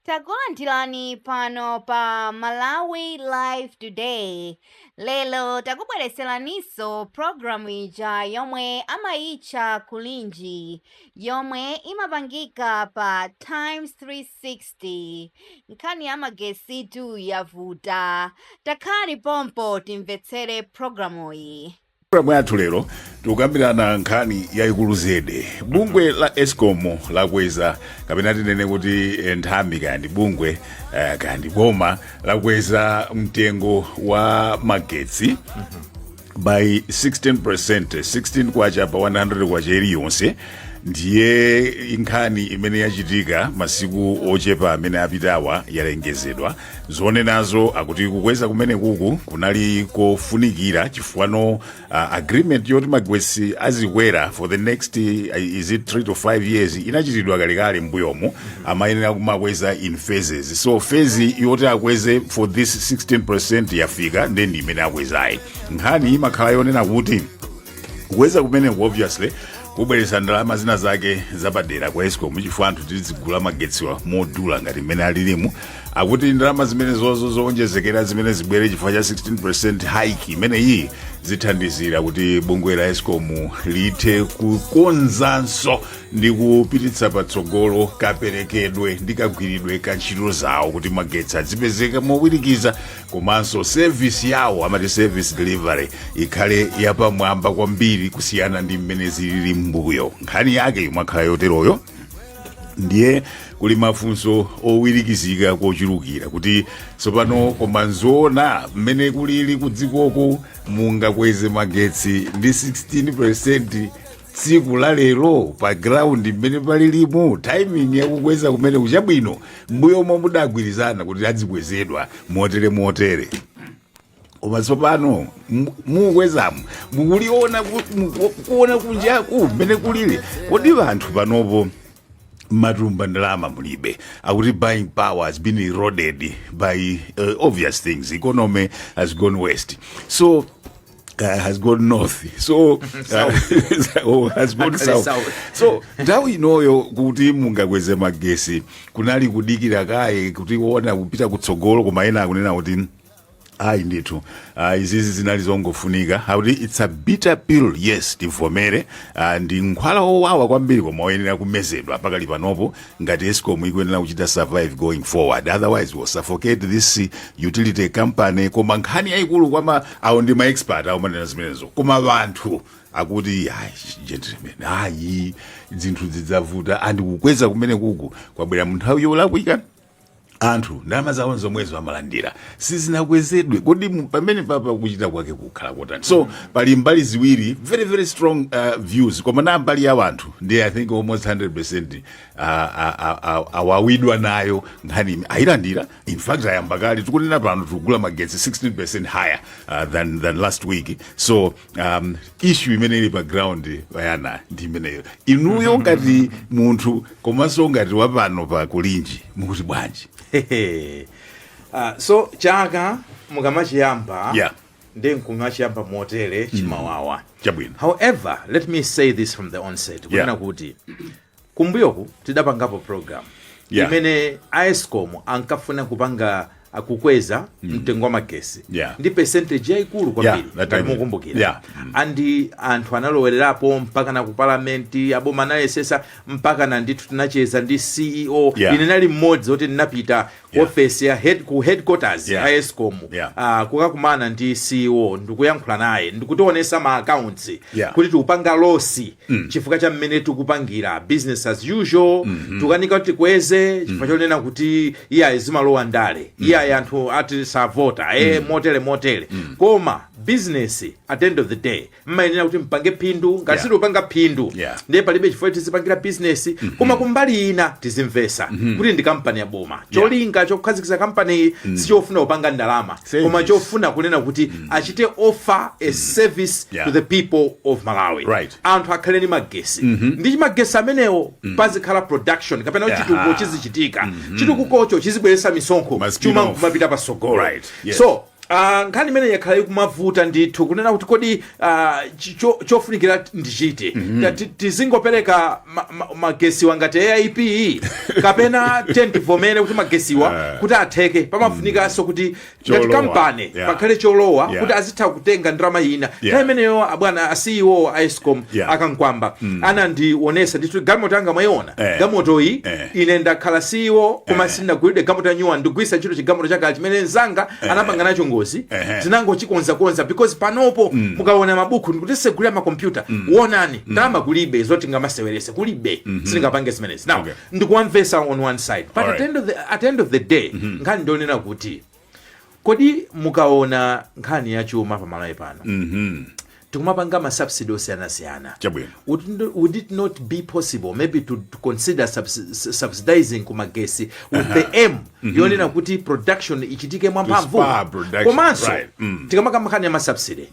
takulandirani pano pa malawi live today lero takubweretseraninso programu ija yomwe amayitcha kulinji yomwe imapangika pa times 360 nkhani ya magetsitu yavuta takhalani pompo timvetsere programuyi M'pulogalamu yathu lero tikukambirana nkhani yayikulu zedi. Bungwe la escom lakweza kapena tinene kuti eh, nthambi kaya ndi bungwe eh, kaya ndi boma lakweza mtengo wa magetsi by 16 percent 16 kwacha pa 100 kwacha iliyonse ndiye nkhani imene yachitika masiku ochepa amene apitawa yalengezedwa zoona zake akuti kukweza kumenekuku kunali kofunikira chifukwa uh, agreement yoti magetsi azikwera for the next uh, is it 3 to 5 years inachitidwa kalekale mbuyomu amayenera kumakweza in phases so phase yoti akweze for this 16 percent yafika nde ndi imene akwezayi nkhani imakhala yonena kuti kukweza kumeneku obviously kubweretsa ndalama zina zake zapadera kwa escom chifukwa anthu tizigula magetsiwa modula ngati mmene alilimu akuti ndalama zimenezozo zowonjezekera zimene zibwere chifukwa cha 16 percent hike imeneyiyi zithandizira kuti bungwe la escom lithe kukonzanso ndi kupititsa patsogolo kaperekedwe ndi kagwiridwe ka ntchito zawo kuti magetsi azipezeka mowirikiza komanso service yawo amati service delivery ikhale yapamwamba kwambiri kusiyana ndi mmene zilili m'mbuyo nkhani yake imakhala yoteroyo ndiye kuli mafunso owirikizika kochulukira kuti tsopano koma nzoona mmene kulili kudzikoko mungakweze magetsi ndi 16 percent tsiku la lero pa ground mmene palilimu timing yakukweza kumeneku chabwino mbuyomu mudagwirizana kuti adzikwezedwa motere motere koma tsopano mu- mukwezamo mukuliona ku- muku- kuona kunjaku mmene kulili kodi anthu panopo m'matumba ndalama mulibe akuti buying power has been eroded by uh, obvious things economy has gone west so uh, has gone north so uh, oh, has gone Actually south. south. so nthawi inoyo kuti mungakweze magetsi kunali kudikira kaye kuti muone kupita kutsogolo koma ena akunena kuti ayi ndithu ah, izizi zinali zongofunika akuti its a bitter pill yes tivomere ah, ndi mankhwala owawa kwambiri koma oyenera kumezedwa pakali panopo ngati escom ikuyenera kuchita survive going forward otherwise we'll suffocate this utility company koma nkhani yayikulu kwama awo ndi maexpert awomanena zimenezo koma wanthu akuti ayi gentlemen ayi zinthu zidzavuta andi kukweza kumene kuku kwabwera munthawi yolakwika anthu ndalama zawo zomwezo amalandira sizinakwezedwe kodi mu- pamene papa kuchita kwake kukhala kotani so pali mbali ziwiri very very strong uh, views koma na mbali ya wanthu ndi i think almost 100 percent uh, awawidwa nayo nkhani ime- ayilandira in fact ayamba kale tikunena pano tikugula magetsi 16 percent higher uh, than, than last week so um, issue imene ili pa ground Wayana ndi imeneyo inuyo ngati munthu komanso ngati wapano pa kulinji mukuti bwanji Hehe. Ah, so chaka mukamachiyamba Yeah. ndi nkumachiyamba motere chimawawa chabwino however let me say this from the onset kunena Yeah. kuti kumbuyoku tidapangapo program yeah. imene aescom ankafuna kupanga kukweza mm. mtengo wa magesi yeah. ndi percentage yaikulu kwambiri yeah, mukumbukira yeah. mm. andi anthu analowererapo mpaka na kupalamenti aboma anayesesa mpaka na ndithu tinacheza ndi ceo yeah. ine nali mmodzi oti ndinapita Yeah. ofesi ya head, ku headquarters Yeah. ya escom Yeah. ah, kukakumana ndi ceo ndikuyankhula naye ndikutionesa ma accounts Yeah. kuti tikupanga losi chifukwa cha mmene tikupangira business as usual tukanika kuti tikweze chifukwa chonena kuti iyayi zimalowa ndale iyayi anthu ati savota e motere motere koma business at the end of the day mmayenera kuti mpange phindu ngati Yeah. sitopanga phindu Yeah. ndiye palibe chifukwa tizipangira bizinesi koma kumbali ina tizimvesa kuti ndi kampani ya boma cholinga chokhazikitsa kampaniyi sichofuna kupanga ndalama Service. koma chofuna kunena kuti achite offer a service Yeah. to the people of malawi Right. anthu akhale ndi magesi ndi magesi amenewo pazikhala production kapena kuti Yeah. chitukuko chizichitika chitukukocho chizibweretsa misonkho Must be chuma enough. kumapita pasogolo Right. Yes. so Ah, nkhani imeneyi yakhala ikumavuta ndithu kunena kuti kodi ah, chi- cho- chofunikira t- ndi chiti Nga ti- tizingopereka ma- ma- magesiwa ngati aip kapena ten tivomere kuti magesiwa kuti atheke pamafunikanso kuti ngati Cholowa. kampani Yeah. pakhale cholowa Yeah. kuti azitha kutenga ndalama ina Yeah. nthawi imeneyo abwana a ceo a escom Yeah. a Kamkwamba anandionesa ndithu galimoto yanga mwayiona Eh. galimotoyi Eh. ine ndakhala CEO koma sindinagulidwe galimoto ya new one ndigwiritsa ntchito chigalimoto chakale chimene mzanga anapanga nacho ngozi Ehe. tinangochikonzakonza because panopo mukaona mabuku ndikutisegulira makompyuta wonani ndalama kulibe zoti ndikamasewerese kulibe sindingapange zimenezi now Okay. ndikuwamvesa on one side but at Alright. the, end of the, at the end of the day nkhani ndi yonena kuti kodi mukaona nkhani ya chuma pamalawi pano Mhm. tikumapanga masubsidy osiyanasiyana Chabwino. would, n- would it not be possible maybe to, to consider subs, s- subsidizing kumagesi with the aim yonena kuti production ichitike mwamphamvu spur production, komanso right. Mm. tikamakamba nkhani ya masubsidy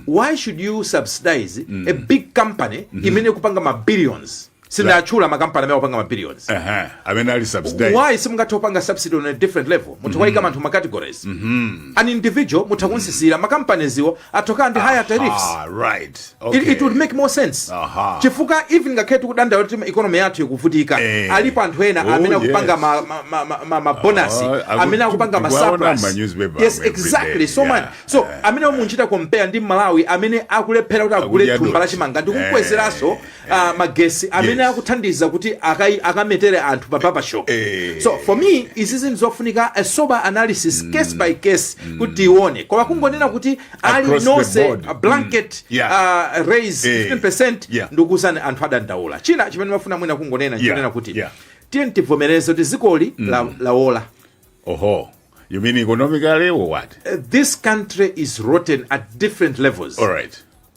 why should you subsidize a big company imene ikupanga ma billions sindinatchule makampani amene akupanga ma billions Ehe, amene ali subsidized why simungathe kupanga subsidy on a different level mutha kuwaika anthu ma categories an individual mutha kumtsitsira makampani awo atchoka ndi higher tariffs ah, right okay. it, it would make more sense Aha. chifukwa even ngakhale tikudandaula kuti economy yathu ikuvutika Eh. alipo anthu ena Oh, amene akupanga yes. ma, ma, ma, ma, ma, ma bonus Ah, aku- amene akupanga ma tikuwaona surplus. m'ma newspaper yes every exactly day. so Yeah. man so amene munchita compare ndi mmalawi amene akulephera kuti agule Akudya thumba la dothi. chimanga ndi Eh. kukwezeranso uh, magesi amene Yes. akuthandiza kuti akai- akametere anthu pa barbershop Eh. so for me izi zinthu zofunika a sober analysis case by case kuti tione koma kungonena kuti aliyense Across the nonse board. a blanket Mm. Yeah. uh, raise Eh. 15% Yeah. ndikuuzani anthu adandaula china chimene mumafuna mwina kungonena Yeah. chonena kuti Yeah. tiyeni tivomereze kuti dzikoli la- lawola oho you mean economically or what Uh, this country is rotten at different levels all right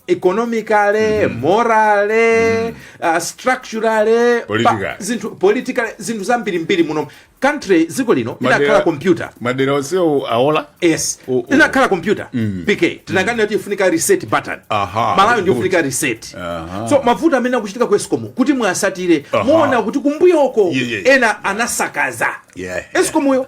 economically mm -hmm. morally mm -hmm. uh, structurally politically zinthu politically zinthu zambiri mbiri muno m'country dziko lino inakhala computer madera onse awola yes oh, oh. inakhala computer mm. pk tinakanena kuti ifunika reset button Aha, malawi ikufunika reset Aha. so mavuto amene akuchitika ku escom kuti muwatsatire muona kuti kumbuyo uko yeah, yeah. ena anasakaza yeah, yeah. escom yo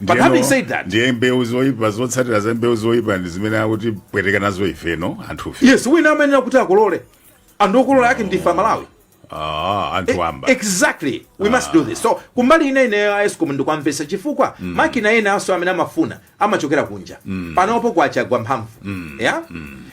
But Ndiyeno- having said that, ndiye mbewu zoyipa zotsatira za mbewu zoyipa ndi zimene akutipweteka nazo ifeno anthufe yes, wina amayenera kuti akolole. Anthu okolola ake ndife amalawi. ah, anthu wamba exactly we must do this so kumbali ina ine ya escom ndikuwamvetsa chifukwa makina ena awo amene amafuna amachokera kunja panopo kwacha yagwa mphamvu yeah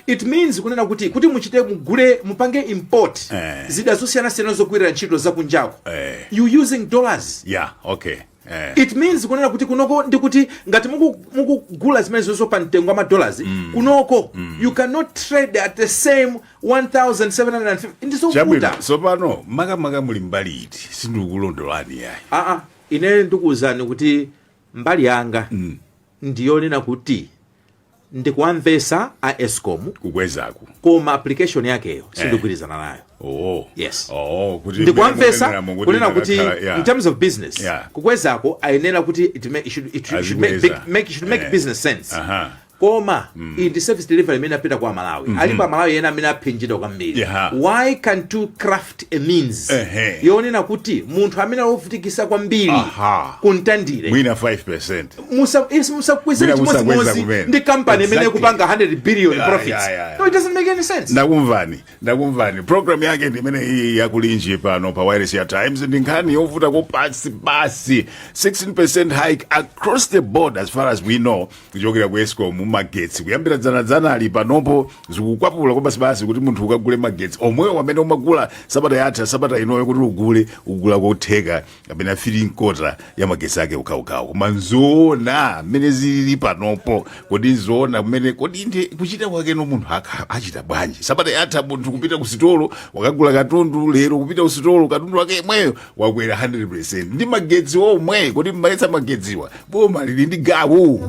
it means kunena kuti kuti muchite mugule mupange import Eh. zida zosiyanasiyana zogwirira ntchito zakunjako Eh. you using dollars yeah okay Eh. it means kunena kuti kunoko ndi kuti ngati muku- mukugula zimenezozo pa mtengo wa madolars kunoko you cannot trade at the same 1750 ndizovuta chabwino tsopano makamaka muli mbali iti sindikukulondolani yayi aa ine ndikuwuzani kuti mbali yanga ndiyonena kuti ndikuwamvetsa a escom kukwezako koma application yakeyo sindikugwirizana nayo oh Yes. oh kuti ndikuwamvetsa mmene mukuti kunena kuti inakakhala- yeah. in terms of business Yeah. kukwezako ayenera kuti it may- it should- it should- it should make Azikweza. big- make- it should make Eh. business sense Aha. koma iyi ndi service delivery imene ipita kwa amalawi alipo amalawi ena amene aphinjidwa kwambiri Yeah. why can't you craft a means Ehe. yonena kuti munthu amene wovutikisa kwambiri Aha. kumtandire mwina 5% Musa- if musakwezera Mwina musakweza chimodzimodzi kumene. ndi kampani imene Exactly. kupanga 100 billion Yeah, profits yeah, yeah, yeah. no it doesn't make any sense ndakumvani ndakumvani programu yake ndi imene iyi ya kulinji pano pa wayilesi ya times ndi nkhani yovuta kwabasibasi 16% hike across the board as far as we know kuchokera ku escom magetsi kuyambira dzanadzanali panopo zikukwapula kwabasibasi kuti munthu ukagule magetsi omwewo amene umagula sabata yatha sabata inoyo kuti ugule ugula kotheka kapena 3 quarter ya magetsi ake okhaokhawo koma nzoona mmene zilili panopo kodi nzoona kumene kodi ndi kuchita kwakeno munthu aka- achita bwanji sabata yatha munthu kupita ku sitolo wakagula katundu lero kupita ku sitolo katundu wake yemweyo wakwera 100% ndi magetsi omwe kodi mmaletsa magetsiwa boma lili ndi gawo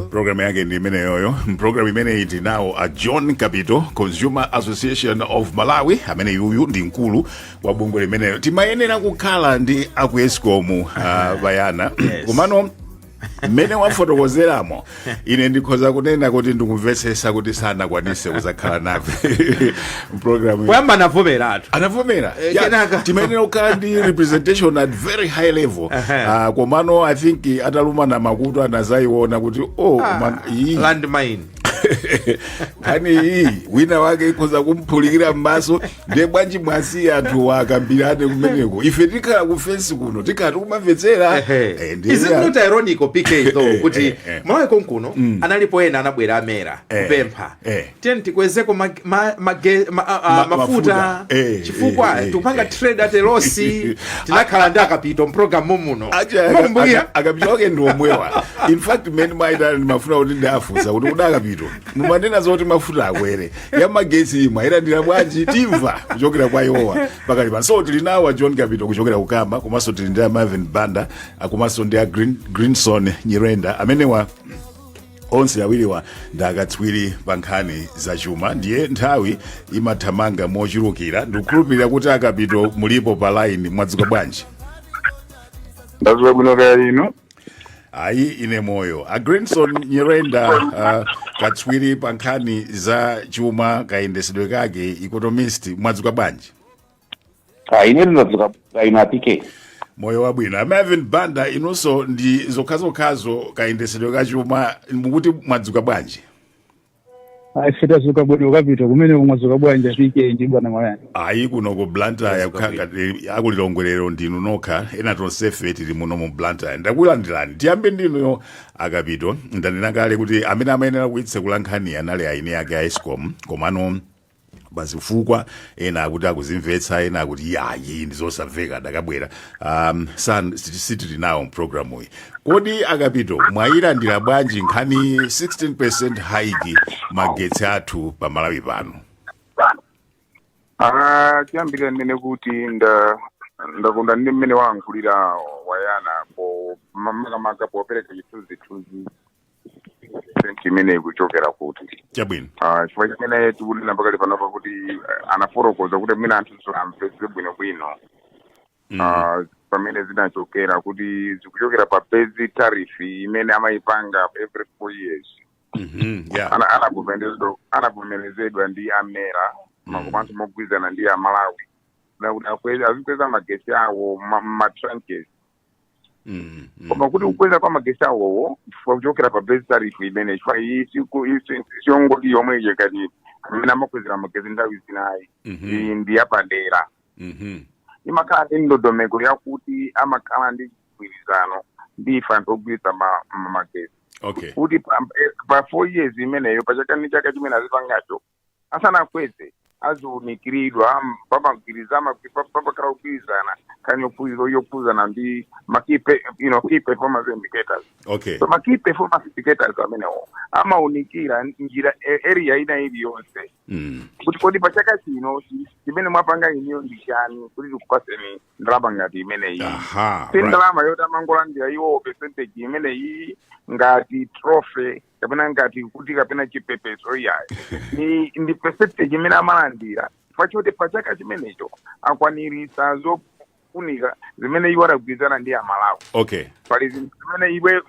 programu yake ndi imeneyoyo mpulogalamu imeneyi tinawo a john kapito consumer association of malawi amene yuyu ndi mkulu wa bungwe limeneyo timayenera kukhala ndi aku escom uh, bayana Yes. komano mmene wafotokozeramo ine ndikhoza kunena kuti ndikumvetsetsa kuti sanakwanise kuzakhala nafe programu poyamba anavomeratu anavomera Eh, Yeah, kenaka. timayenera kukhala ndi representation at very high level Aha. Ah, komano i think atalumana makutu anazayiona kuti oh man, iyi- landmine nkhani iyi wina wake ikhoza kumphulikira m'maso ndiye bwanji mwasiye anthu wakambirane kumeneko ife tikhala kufensi kuno tikhala tikumamvetsera Eh, ndiye- is it not ironical pk though kuti eh, eh. malawi konkuno analipo ena anabwera a mera Eh, kupempha eh. tiyeni tikwezeko ma- ma- mage- ma- a- a- Ma- mafuta mafuta. Eh, chifukwa eh, eh, tikupanga eh. trade at a loss tinakhala ndi akapito mpulogalamu muno Acha- Mukumbukira? aka- akapito wake ndi omwewa in fact mmene mmaitana ndimafuna kuti ndiwafunse kuti kodi akapito mumanena zoti mafuta akwere ya magetsiyi mwayilandira bwanji timva kuchokera kwa iwowa pakali pano so tili nawo a john kapito kuchokera ku cama komanso tili ndi a marvin banda ah, komanso ndi a Green- greenson nyirenda amenewa onse awiriwa ndi akatswiri pa nkhani za chuma ndiye nthawi imathamanga mochulukira ndikukhulupirira kuti akapito mulipo pa line mwadzuka bwanji ndadzuka bwino kaya inu ayi ine moyo a greenson nyirenda uh, katswiri pa nkhani za chuma kayendesedwe kake economist mwadzuka bwanji Ah, ine ndadzuka ine a pk moyo wabwino a marvin banda inunso ndi zokhazokhazo kayendesedwe ka chuma mukuti mwadzuka bwanji sitadzuka bwino Kapito kumene mwadzuka bwanji PK ndi bwana mayani ayi kuno ku blantyre kukhala ngati akulilongwelero ndinu nokha ena tonsefe tili muno mu blantyre ndakulandirani tiyambe ndinuyo a Kapito ndanena kale kuti amene amayenera kuyitsekula nkhaniyi anali aeni ake a escom komano pazifukwa zina ena akuti akuzimvetsa ena akuti yayi ndizosamveka sadakabwera um, san sitili nawo mprogramuyi kodi a Kapito mwayilandira bwanji nkhani 16 hike magetsi athu pa malawi pano Ah, choyambirira ndinene kuti nda ndakonda ndi mmene wayankhulira Mayani apo makamaka popereka chithunzithunzi cheni chimene ikuchokera kuti chabwino Ah, chifukwa chimene tikulira pakali panopa kuti eh, anafotokoza kuti mwina anthu amvetse bwinobwino Mm. Ah, pamene zinachokera kuti zikuchokera pa base tariff imene amayipanga every four years Mhm, yeah. Ana- anavomerezedwa- anavomerezedwa ndi a MERA Mm. komanso mogwirizana ndi amalawi kuti akweza- azikweza magesi awo ma- ma- matranches Mm, mm. koma kuti kukweza kwa magesi awowo chifukwa kuchokera pa base tariff imene chifukwa iyi siku- iyi si- siyongoti yomwe ija kuti a MERA amakwezera magesi nthawi zinayi Mhm. iyi ndi yapadera Mhm. imakhala ndi ndondomeko yakuti amakhala ndi mgwirizano ndi ife anthu ogwiritsa ma- ma- magesi okay kuti pa- eh, pa four years imeneyo pa chaka ndi chaka chimene azipangacho asanakweze aziunikiridwa pamagwirizana pamakhala kugwirizana kani yophunzira yophunzana ndi ma key pe- you know, key performance indicators okay so ma key performance indicators amenewo amaunikira njira e- area ina iliyonse mm. kuti kodi pa chaka chino chi- chimene mwapanga inuyo ndi chani kuti tikupaseni ndalama ngati imeneyi aha right. si ndalama yoti amangolandira iwowo percentage imeneyi ngati trophy kapena ngati kuti kapena chipepeso iyayi ni ndi percentage imene amalandira chifukwa choti pa chaka chimenecho akwaniritsa zofunika zimene iwo adagwirizana ndi amalawi okay pali zinthu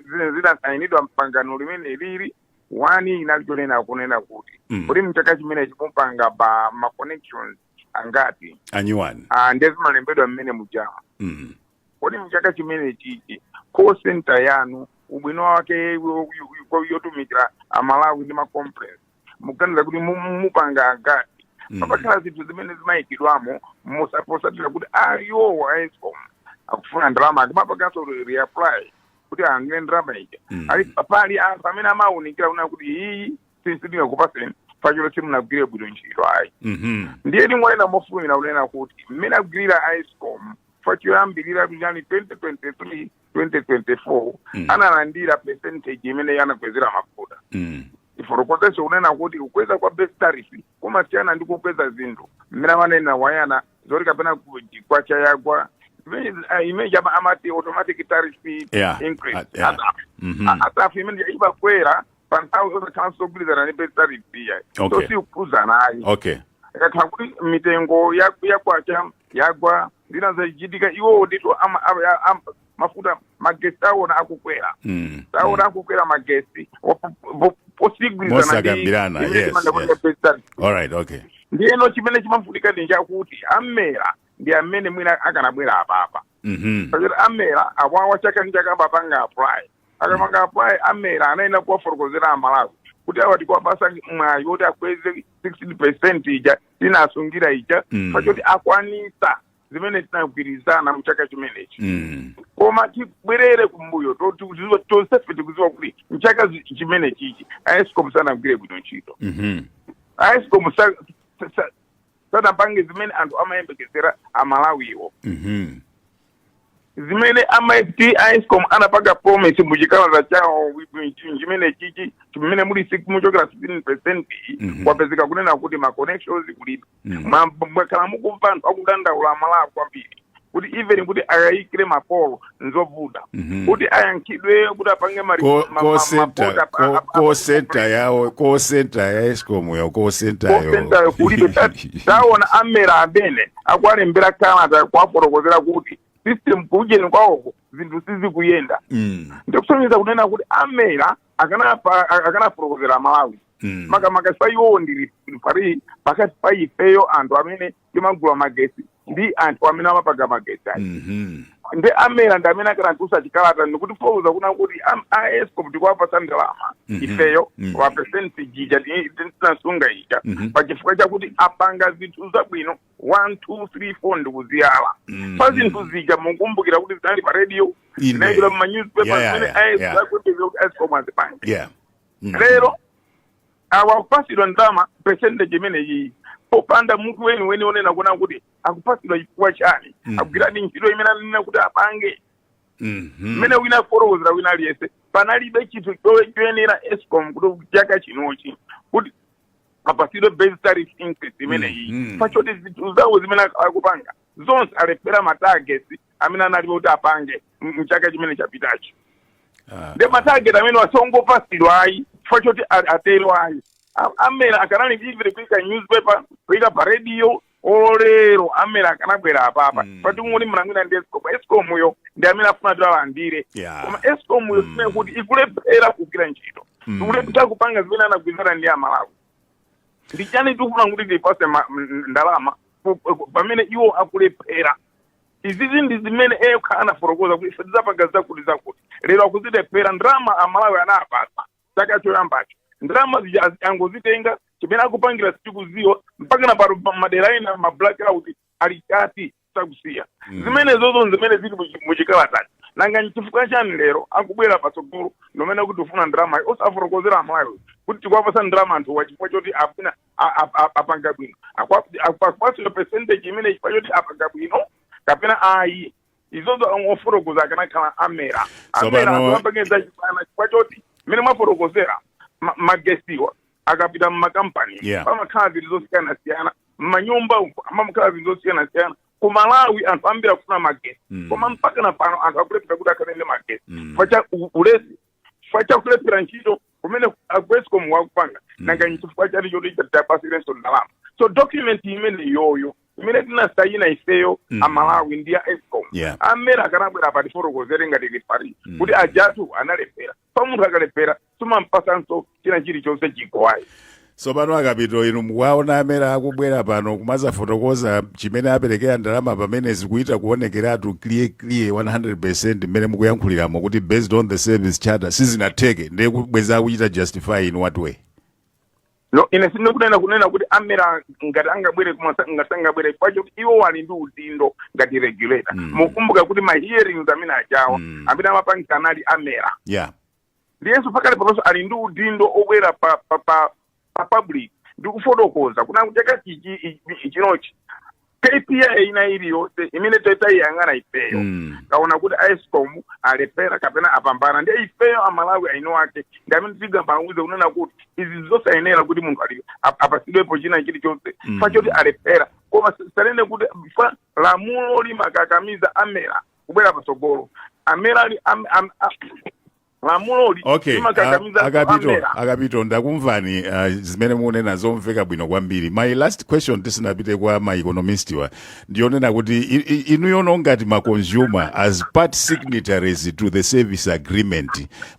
zimene zidasayinidwa mpangano limene lili one inali chonena kunena kuti Mm. kuti mchaka chimenechi mupanga pa ma connections angati anyuwani Ah, ndiye zimalembedwa mmene muja mm. kodi mchaka chimene chichi call center yanu ubwino wake yo- yo- yo- yotumikira amalawi ndi macomplaints mukuganiza kuti mu- mu- mupanga angati Mm. pamakhala zinthu zimene zimayikidwamo motsatira kuti iwowo a escom akufuna ndalama akumapanganso reapply kuti angire ndalama ija Mm. ali pali anthu amene amawunikira kuona kuti iyi sindingakupatseni pachoti simunagwire bwino ntchito ayi Mhm. ndiye ndingonena mofulumira kunena kuti mmene agwirira escom pachoyambirira kuchani 2023 2024 Mm. analandira percentage imene anakwezera mafuta Mm. ndifotokozeso kunena kuti kukweza kwa base tariff kumasiyana ndi kukweza zinthu mmene amanena wayana zoti kapena ku- kwacha yagwa imene- ah, imene chama amati automatic tariff Yeah, increase ah, yeah. Asa- Mhm. a- tariff imene imakwera panthawi zosakhalanso zogwirizana ndi base tariff iya Okay. so sikukhuzana ayi okay ikakhala kuti mitengo ya- ya kwacha yagwa zina zachitika iwowo ndithu ama- ama- ya- am- mafuta magesi taona akukwera Mm. taona akukwera magesi Posagwirizana Mosakambirana, yes, yes. all right okay ndiyeno chimene chimafunika ndi chakuti amera ndi amene mwina akanabwera apapa Mhm. pachoti amera awawa chaka ndi chaka amapanga apply akapanga apply amera anayenera kuwafotokozera amalawi kuti awa tikuwapasa mwayi woti akweze 16 percent ija tinasungira ija Mm. pachoti akwanisa zimene tinagwirizana mu chaka chimenechi Mm. koma tibwerere kumbuyo to- tikuziwa- tonsefe tikuziwa kuti mchaka zi- chimenechichi aescom sanagwire bwino ntchito Mhm. aescom sa- sa- sa- sadapange zimene anthu amayembekezera amalawiwo Mhm. zimene amati a escom anapanga promise mu chikalata chawo chimene chichi chimene muli si- muchokera 16 percent Mhm. kwapezeka kunena kuti ma connections kulibe Mhm. Ma- mwakhala mukumva anthu akudandaula amalawi kwambiri kuti even kuti akayikire mapolo nzovuta Mhm. kuti ayankhidwe kuti apange mari- Ko- ma- ma- call center mapota apa- ko- apa- apa- call center yawo call center ya escom yo call center yo call center yo kulibe Ta- taona amera amene akuwalembera kalata kuwafotokozera kuti system kuujeni kwawoko zinthu sizikuyenda Mm, ndikusonyeza kunena kuti amera akanapa- akanafotokozera amalawi mm, makamaka sa iwowo ndi ali pali pakati pa ifeyo anthu amene timagula magetsi ndi anthu amene amapanga magetsi aja Mhm. ndi amera ndi amene akanatulutsa chikalata ndikutiwuza kunena kuti am- a escom tikuwapatsa ndalama Mhm. ifeyo Mhm. pa percentage ija ti- ti- tinasunga ija Mhm. pa chifukwa chakuti apanga zinthu zabwino 1 2 3 4 ndikuziyala Mhm. pa zinthu zija mukumbukira kuti zinali pa radio Inde. zinaikidwa mu Yeah, ma newspapers yeah, zimene yeah, yeah. aescom azipanga Yeah. Mhm. lero awa akupasidwa ndalama percentage imeneyiyi popanda munthu weniweni onena kuwona kuti akupasidwa chifukwa chani Mm. agwiradi ntchito imene ananena kuti apange Mhm. mmene wina afotokozera wina aliyense panalibe chinthu chowe- choyenera escom kuti chaka chinochi kuti apasidwe base tariff increase imeneyi Mhm. pachoti zinthu zawo zimene ak- akupanga zonse alephera matargets amene analipo kuti apange m- mchaka chimene chapitacho Ah, ndi matageti amene osangopasidwa ayi chifukwa choti a- atero ayi A- amera akanafunikira kuika newspaper kuika pa radio olo lero amera akanabwera apapa Mm. pati ngoni mnangwina ndi escom escom yo ndi amene afuna kuti alandire Yeah. koma escom yo Mm. imene kuti ikulephera kugwira ntchito Mm. ikulephera kupanga zimene anagwirizana ndi amalawi ndi chani tikufuna kuti tipase ma- m- ndalama ku- ku- pamene iwo akulephera izizi ndi zimene okha anafotokoza kuti ife tidzapanga zakuti zakuti lero akuzilephera ndalama amalawi anapasa chaka choyambacho ndalama zija azi- angozitenga chimene akupangira sitikuziwa mpaka na pano pa madera ena ma blackout alikadi sakusiya zimene zozo nzimene zili muchi- muchikalatachi nanga nchifukwa chani lero akubwera patsogolo nkumanena kuti tikufuna ndalama osafotokozera amalawi kuti tikuwapasa ndalama anthuwa chifukwa choti afuna a- a- a- apanga bwino Akupa- akupa- akupasidwa percentage imene chifukwa choti apanga bwino kapena ayi izozo ofotokoza akanakhala amera amera Tsopano- anthu apangeza chipana chifukwa choti mmene mwafotokozera ma- magesiwa akapita mmakampani Yeah. pamakhala zinthu zosiyanasiyana mmanyumba uko mumakhala zinthu zosiyanasiyana ku malawi anthu ambiri akufuna magesi Mm. koma mpaka na pano anthu akulephera kuti akhale ndi magesi Mm. fa cha u- ulesi chifukwa cha kulephera ntchito kumene a escom wa akupanga nanga nchifukwa chani choti tiwapasirenso ndalama so document imene iyoyo imene tinasayina ifeyo Mm. amalawi ndi a escom Yeah. amera akanabwera atifotokozere ngati lifari kuti awatu analephera fa munthu akalephera sumampasanso china chilichonse chiko ayi tsopano akapito inu mukuwaona amera akubwera pano kumazafotokoza chimene aperekera ndalama pamene zikuita kuonekeratu clear clear 100 mmene mukuyankhuliramo kuti based on the service charter sizinatheke ndiye akubwera akuchita justify in what way no ine sindikunena kunena kuti amera ngati angabwere koma sa- ngati sangabwere fachoti iwowa ali ndi udindo ngati regulator Mm. mukumbuka kuti ma hearings amene ajawa Mm. amene amapangisa anali amera yeah ndiyenso pakali panonso ali ndi udindo obwera pa pa pa pa public ndi kufotokoza kunena kuti chaka chichi i- i- chinochi kpi ina iliyonse imene tayi- tayiyang'ana ifeyo Mm. taona kuti a escom alephera kapena apambana ndiye ifeyo amalawi eni ake ndi amene tigamule kunena kuti izi zosayenera kuti munthu ali- ap- apasidwepo china chilichonse Mm. fachoti alephera koma asanene kuti fa lamulo limakakamiza amera kubwera patsogolo amene ali am- am- a- lamuloli okay limakakamiza a- anthu akapito amera. akapito ndakumvani uh, zimene mukunena zomveka bwino kwambiri my last question tisanapite kwa ma economist wa ndi yonena kuti i- i- inuyono ngati ma consumer as part signatories to the service agreement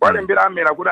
walembera a mera kuti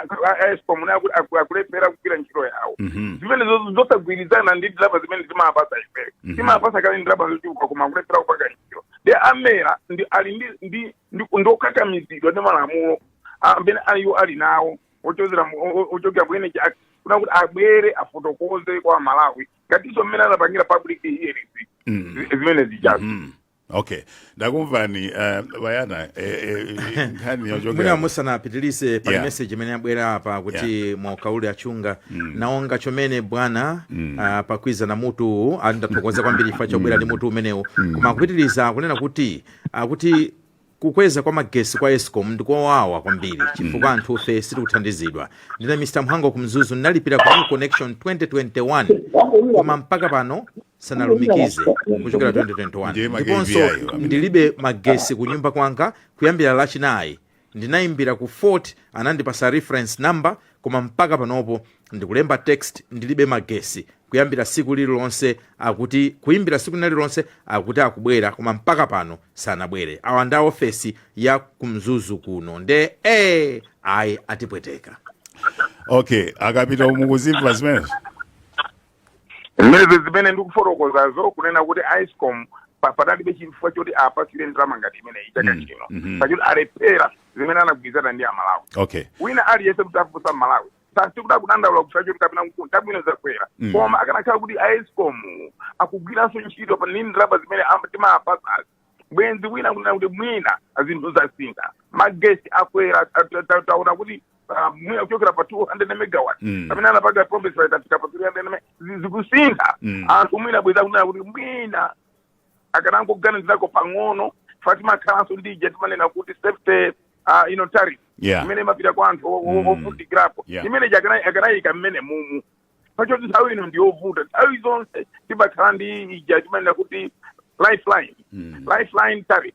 escom naye kuti aku- akulephera kugwira ntchito yawo Mhm. zimenezo zosagwirizana ndi ndalama zimene timapasa ifere Mhm. timapasa kale ndalama zochuluka koma akulephera kupanga ntchito nde a mera ndi ali ndi ndi ndi ndiokakamizidwa ndi malamulo amene aliwo ali nawo ochozera mu- o- o- ochokera ku energy act kunena kuti abwere afotokoze kwa amalawi ngatinso mmene anapangira public hearings Mhm. zimene zijazo Mhm. okay ndakumvani uh, ba Yana eh, eh, eh, nkhani mwina yochokera musanapitilize pali Yeah. meseji imene yabwera apa kuti mwauka uli a Chunga nawonga chomene bwana ah, pakwiza na mutu uwu ndathokoza kwambiri chifukwa chobwera ndi mutu umenewu koma akupitiliza akunena kuti akuti Kukweza kwa magesi kwa escom ndikowawa kwambiri chifukwa anthufe sitikuthandizidwa. Ndine Mr Mhango ku Mzuzu ndinalipira ku connection 2021 koma mpaka pano sanalumikize kuchokera 2021 Ndiye magesi ndiponso ayo amene. ndilibe magesi ku nyumba kwanga kuyambira lachinayi ndinayimbira ku fault anandipasa reference number koma mpaka panopo ndikulemba text ndilibe magesi kuyambira siku lililonse akuti kuyimbira siku nalilonse akuti akubwera koma mpaka pano sanabwere awa ndi a ofesi ya ku mzuzu kuno nde e ayi atipweteka okay akapita mukuzimva zimenezo mmene zimene ndikufotokozazo kunena kuti escom pa- padalibe chifukwa choti apasire ndalama ngati imeneyi chaka Mm, chino mhm. pakuti alephera zimene anagwirizana ndi amalawi okay wina aliyense kutafunsa amalawi sisikuti akudandaula chifukwa choti kapena chabwino zakwera Mm. koma akanakhala kuti a escom akugwiranso ntchito pa nini ndalama zimene am- timapasazi bwenzi wina akunena kuti mwina zinthu zasintha magesi akwera ta- ta- ta- taona kuti ah, mwina kuchokera pa 200 megawatt Mm. pamene anapanga promise itafika pa 300 me- zi- zikusintha Mm. anthu mwina bwenzi akunena kuti mwina akanangoganizirako pang'ono chifukwa timakhalanso ndi ija timanena kuti safety uh, you know, tariff Yeah. imene imapita kwa anthu o- o- Mm. ovutikirapo Yeah. imene ija akana- akanayika mmene mumu chifukwa choti nthawi ino ndiyovuta nthawi zonse timakhala ndi ija timanena kuti lifeline Mm. lifeline tariff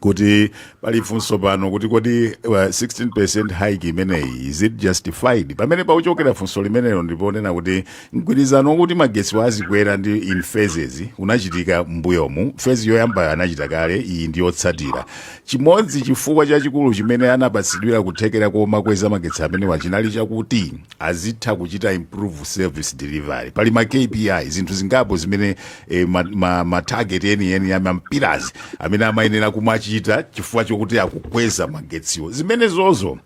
kuti pali funso pano kuti kodi uh, 16% hike imeneyi is it justified pamene pakuchokera funso limenelo ndiponena kuti mgwirizano wokuti magetsiwa azikwera ndi in phases unachitika mbuyomu phase yoyambayo anachita kale iyi ndi yotsatira chimodzi chifukwa chachikulu chimene anapatsidwira kuthekera komakweza magetsi amenewa chinali chakuti azitha kuchita improve service delivery pali ma kpi zinthu zingapo zimene e, ma, ma, ma target enieni ya ma pillars amene amayenera kumachita chifukwa chokuti akukweza magetsiwo zimenezozo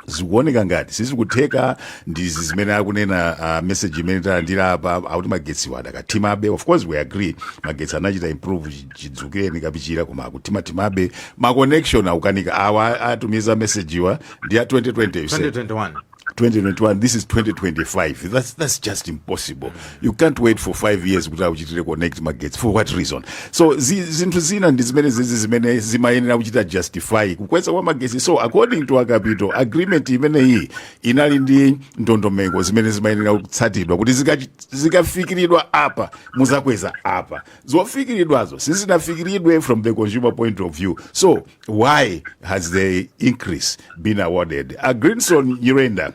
zikuoneka ngati sizikutheka ndi izi zimene akunena uh, message imene talandira apa akuti magetsiwo adakathimabe of course we agree magetsi anachita improve chi- chidzukireni Kapichira koma akuthimathimabe ma connection akukanika awa atumiza message wa ndi ya 2020 you said. 2021 2021 this is 2025 that's, that's just impossible you can't wait for five years kuti akuchitire connect magetsi for what reason so zi- zinthu zina ndi zimene zizi zimene zimayenera kuchita justify kukweza kwa magesi so according to a Kapito agreement imeneyi inali ndi ndondomeko zimene zimayenera kutsatidwa kuti zikachi- zikafikiridwa apa muzakweza apa zofikiridwazo sizinafikiridwe from the consumer point of view so why has the increase been awarded a Greenson Nyirenda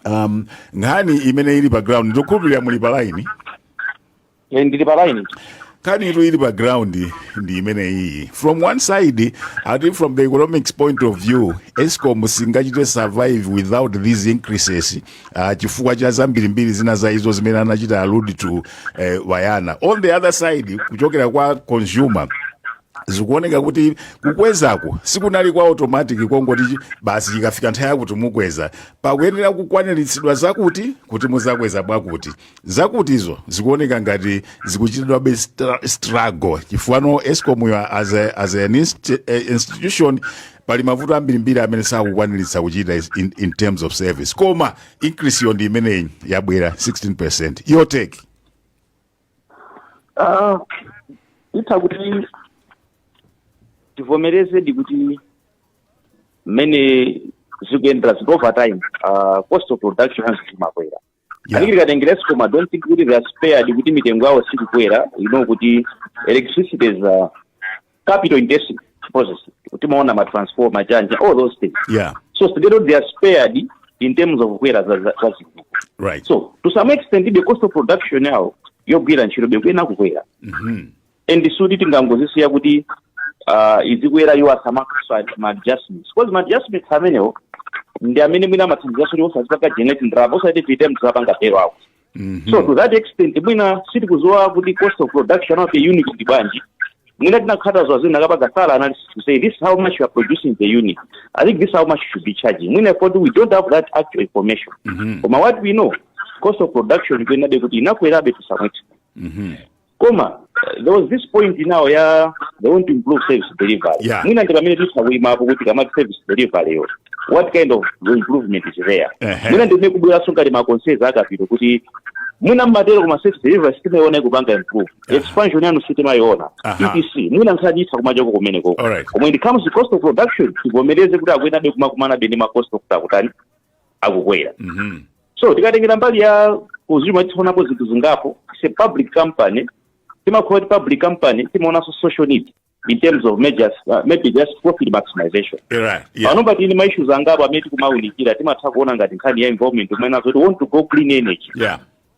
um, nkhani imene ili pa ground ndikukhulupirira muli pa line Eh, ndili pa line nkhani yo ili pa ground ndi imene iyi from one side i think from the economics point of view escom singachite survive without these increases uh, chifukwa cha zambirimbiri zina za izo zimene anachita allude to uh, wayana on the other side kuchokera kwa consumer zikuoneka kuti kukwezako sikunali kwa automatic kongoti chi- basi chikafika nthawi yakuti mukweza pakuyenera kukwaniritsidwa zakuti kuti muzakweza bwakuti zakutizo zikuoneka ngati zikuchitidwabe stra- struggle chifukwa escomuyo as, a- as an inst- eh, institution pali mavuto ambirimbiri amene sakukwaniritsa kuchita is- in, in terms of service koma increase yo ndi imeneyi yabwera 16 your take Ah, itha kuti tivomerezedi kuti mmene zikuyendera zit over time uh, cost of production yanso zimakwera Yeah. yeah. tikatengera escom I don't think kuti they are spared kuti mitengo yawo sikukwera you know kuti electricity is uh, capital intensive process timaona ma transformer, ma generator all those things yeah so together they are spared in terms of kukwera za za- za zinthu right so to some extent the cost of production yawo yogwirira ntchito bekuena kukwera Mhm. and suti tingangozisiya kuti uh, izikwera iwo asamakaswa ma adjustments because ma adjustments amenewo ndi amene mwina amathandizanso kuti osazipanga generate ndalama osati tiite mthu apanga tero awo Mhm. so to that extent mwina sitikuziwa kuti cost of production of a unit ndi bwanji mwina tinakadziwa zina kapaka sala analysis to say this is how much you are producing the unit i think this is how much you should be charging mwina popeza we don't have that actual information Mhm. but what we know cost of production ikuyenerabe kuti inakwerabe to some extent Mhm. koma there was this point now ya they want to improve service delivery Yeah. mwina ndi pamene titha kuyimapo kuti kaya service delivery yo what kind of improvement is there Ehe. mwina ndimene akubweranso ngati ma concerns a a Kapito kuti mwina mumatero koma service delivery sitimayiona ikupanga improve expansion yanu sitimayiona Aha. etc mwina nkhani itha kumachoka kumeneko Alright. koma when it comes to cost of production tivomereze kuti akuyenabe kumakumanabe ndi ma cost oti akutani akukwera Mhm. so tikatengera mbali ya kuti ya tionapo zinthu zingapo it's a public company timakhala kuti public company timaonanso social need in terms of measures, uh, maybe just profit maximization Right. Yeah. pano pali ndi maissues angapo amene tikumaunikira timatha kuona ngati nkhani ya environment mmene akuti we want to go clean energy Yeah.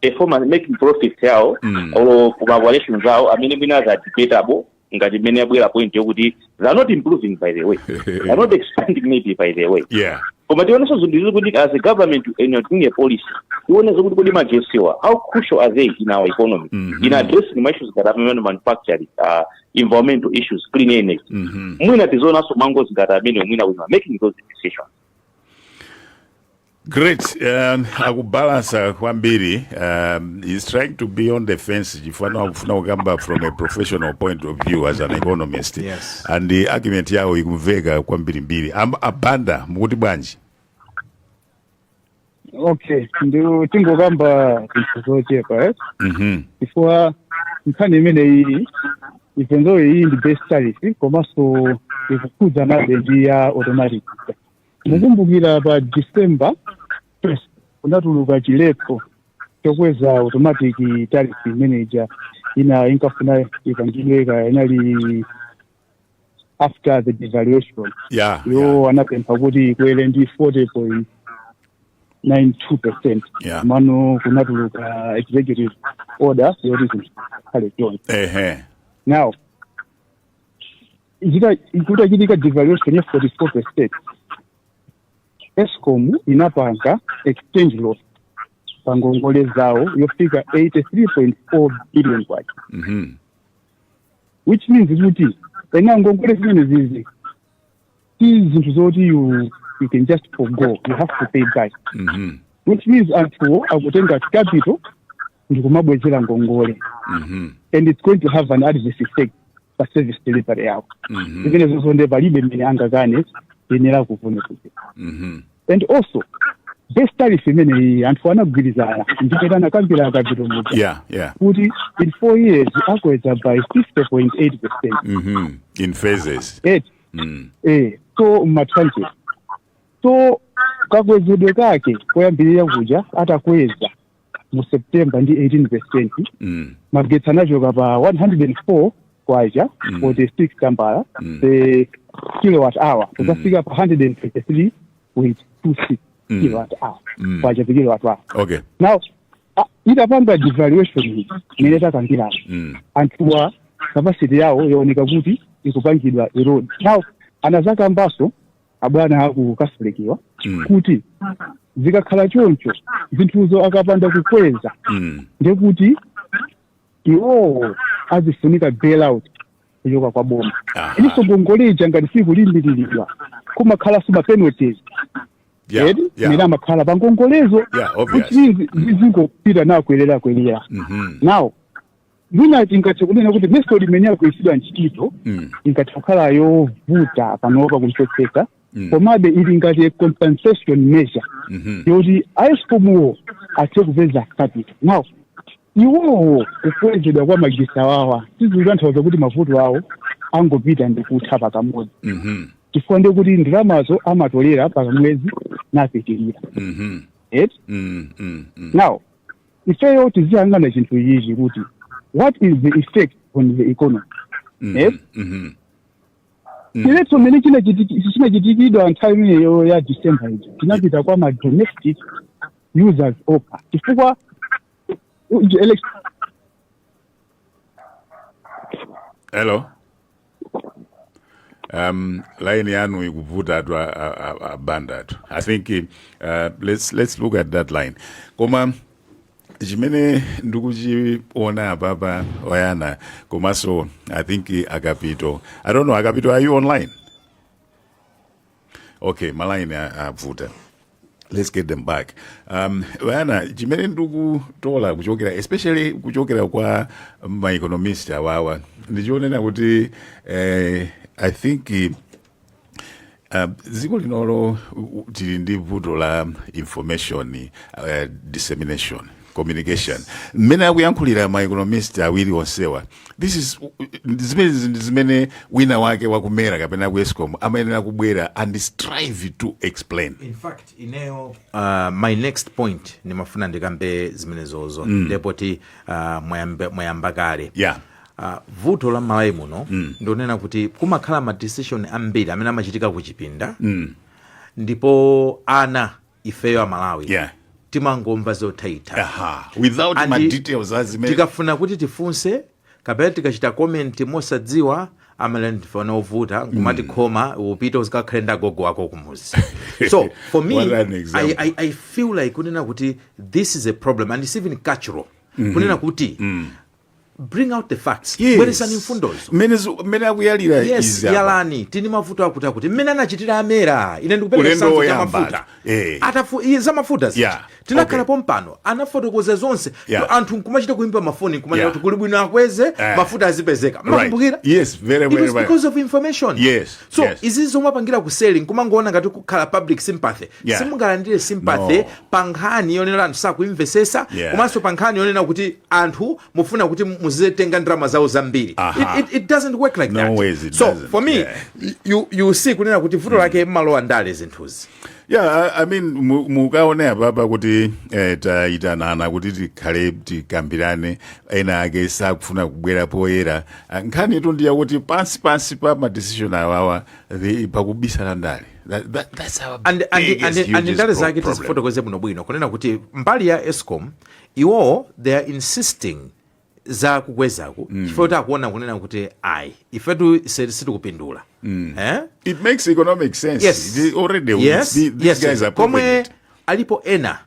performance making profits yawo Mm. or ma valuations awo amene mwina are debatable ngati mmene abwera point yokuti they are not improving by the way they are not expanding maybe by the way yeah koma tionenso zinthu izi kuti as a government and you're doing a policy tione zokuti kodi majesiwa how crucial are they in our economy Mhm. in addressing ma issues that are manufacturing uh, environmental issues clean energy Mhm. mwina tizionanso mangozi ngati amene mwina we are making those decisions Great. Um, akubalansa kwambiri um, he's trying to be on the fence chifukwa akufuna kukamba from a professional point of view as an economist Yes. and the argument yawo ikumveka kwambirimbiri Am- a Banda mukuti bwanji okay nditangokamba zinthu zochepa eh? Mhm. chifukwa nkhani imeneyi ipenzoyo iyi ndi base tariff komanso ikukhudzanabe ndi ya automatic mukumbukira pa december first kunatuluka chiletso chokweza automatic tariff measure ina inkafuna ipangidwe kaya inali after the devaluation ya iwo anapempha kuti ikwere ndi 40.92 percent Yeah. mano kunatuluka executive order yoti zinthu zikhale choncho ehe now Zita- kutachitika devaluation ya 44 percent escom inapanga exchange loss pa ngongole zawo yofika 83.4 billion kwacha Mhm. which means kuti eya ngongole zimenezizi si zinthu zoti you, you can just forgo you have to pay back Mhm. which means anthuwo akutenga capital ndikumabwezera ngongole Mhm. and it's going to have an adverse effect pa service delivery yawo Mhm. zimenezonso nde palibe mmene angakane ayenera kuvomerezeka Mhm. and also base tariff imeneyi anthu anagwirizana ndi mmene anakambira a Kapito muja Yeah, yeah. kuti in four years akweza by 50.8 percent Mhm. In phases. et Mm. eh, so m'ma tranches so kakwezedwe kake koyambirira kuja atakweza mu september ndi 18 percent mm. magetsi anachoka pa 104 kwacha Mm. 46 tambala Mm. per kilowatt hour kukafika pa 123.26 Mm. kilowatt hour Mm. kwacha per kilowatt hour okay now ah, itapanga devaluation iyi imene takambirana mm. anthuwa capacity yawo yaoneka kuti ikupangidwa erode now anazakambanso abwana aku treasury kuja Mm. kuti zikakhala choncho zinthuzo akapanda kukweza Mm. ndekuti iwowo azifunika bailout kuchoka kwa boma Aha. ilinso ngongole ija ngati sikulimbiriridwa kumakhala so ma penalties Yeah, edi yeah. mene amakhala pa ngongolezo Yeah, obvious. kuti zizingopita nakwelera kwelera Mhm. nawo mwina tingathe kunena kuti method imene yagwiritsidwa ntchito Mm. ingathe kukhala yovuta panopa kumvetsetsa Mm. komabe ili ngati a compensation measure Mhm. yoti a ESCOM-wo athe kupeza capital now iwowo kukwezedwa kwa magetsi awawa sizikutanthauza kuti mavuto awo angopita ndi kutha pakamodzi Mhm. chifukwa ndiye kuti ndalamazo amatolera pakamwezi napitirira Mhm. et Mm. Mm. Mm. now ifeyo tiziyang'ana chinthu ichi kuti what is the effect on the economy Mhm, Eh? mhm. Mm. chiletso mmene chinachitiki- chinachitikidwa nthawi imeneyo ya december ija chinapita kwa ma domestic users okha chifukwa uh, elec- hello um line yanu ikuvuta tu a- a- a- abanda tu i think uh, let's, let's look at that line koma chimene ndikuchiona apapa oyana komanso i think akapito i don't know akapito are you online okay malaini a- avuta let's get them back um, vana chimene ndikutola kuchokera especially kuchokera kwa maeconomist awawa ndichonena kuti eh, i think eh, Uh, dziko linolo u- u- tili ndi vuto la information uh, dissemination communication mmene akuyankhulira ma economist awiri onsewa this is zimenezi ndi zimene wina wake waku MERA kapena ku ESCOM amayenera kubwera and strive to explain in fact ineyo uh, my next point ndimafuna ndikambe zimenezozo mm. ndepoti uh, mwayamba, mwayamba kale yeah Uh, vuto la malawi muno mm. ndi lonena kuti kumakhala madecision ambiri amene amachitika kuchipinda mm. ndipo ana ifeyo amalawi yeah. timangomva zothaitha tikafuna kuti tifunse kapena tikachita komenti mosadziwa amati ndife ana ovuta nkumati mm. khoma upite uzikakhale ndi agogo wako kumuzi so for me I, I, i feel like kunena kuti this is a problem and it's even cultural mm -hmm. kunena kuti mm. bring out the facts yes. bweresani mfundozo mmene akuyalira yes yalani timve mavuto akuti akuti mmene anachitira a Mera ine ndikupereka sanzo ya mafuta eh. atafu iye za mafuta ziti yeah. tinakhala okay. pompano anafotokoza zonse yeah. anthu nkumachita kuimba mafoni nkumachita yeah. kuli bwino akweze eh. mafuta azipezeka mukukumbukira right. yes very very it was because of information yes so yes. izi zomwe apangira ku selling kumangoona ngati kukhala public sympathy yeah. simungalandire sympathy no. pa nkhani yonena anthu sakuimvesesa yeah. komanso pa nkhani yonena kuti anthu mufuna kuti muzitenga ndalama zawo zambiri Aha. it, it, it doesn't work like No that ways it so doesn't, for me yeah. you, you see kunena kuti vuto lake mumalowa ndale zinthuzi yeah i, I mean mu- mukaone apapa kuti eh, tayitanana kuti tikhale tikambirane ena ake sakufuna kubwera poyera Ah, nkhanitu ndi yakuti pansi pansi pa madecision awawa the- pakubisala ndale That- that- that's our and, and, biggest, and, and hugest ndale pro- zake problem. tizifotokoze bwinobwino kunena kuti mbali ya escom iwowo they are insisting za kukwezaku mm. chifukwa kuti akuona kunena kuti ayi ifetu se- sitikupindula mm. eh? It makes economic sense. yes. They already yes. the- these yes. guys are proving komwe it. alipo ena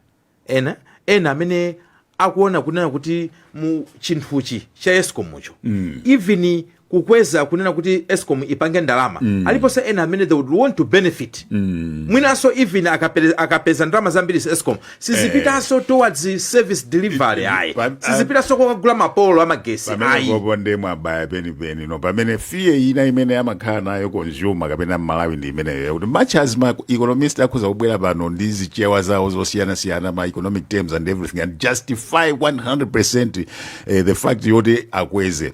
ena ena amene akuona kunena kuti mu chinthuchi cha escom mucho mm. even kukweza kunena kuti escom ipange ndalama mm. aliponso ena amene they would want to benefit mm. mwinanso even akapere, akapeza ndalama zambiri escom sizipitanso eh. towards service delivery ayi sizipitanso kokagula mapolo amagesi pamenepopo nde mwabaya penipeni no pamene fear ina imene amakhala nayo consumer kapena mmalawi ndi imeneyo yakuti much as ma economist akhoza kubwera pano ndi zichewa zawo zosiyanasiyana ma economic terms and everything and justify 100 eh, the fact yoti akweze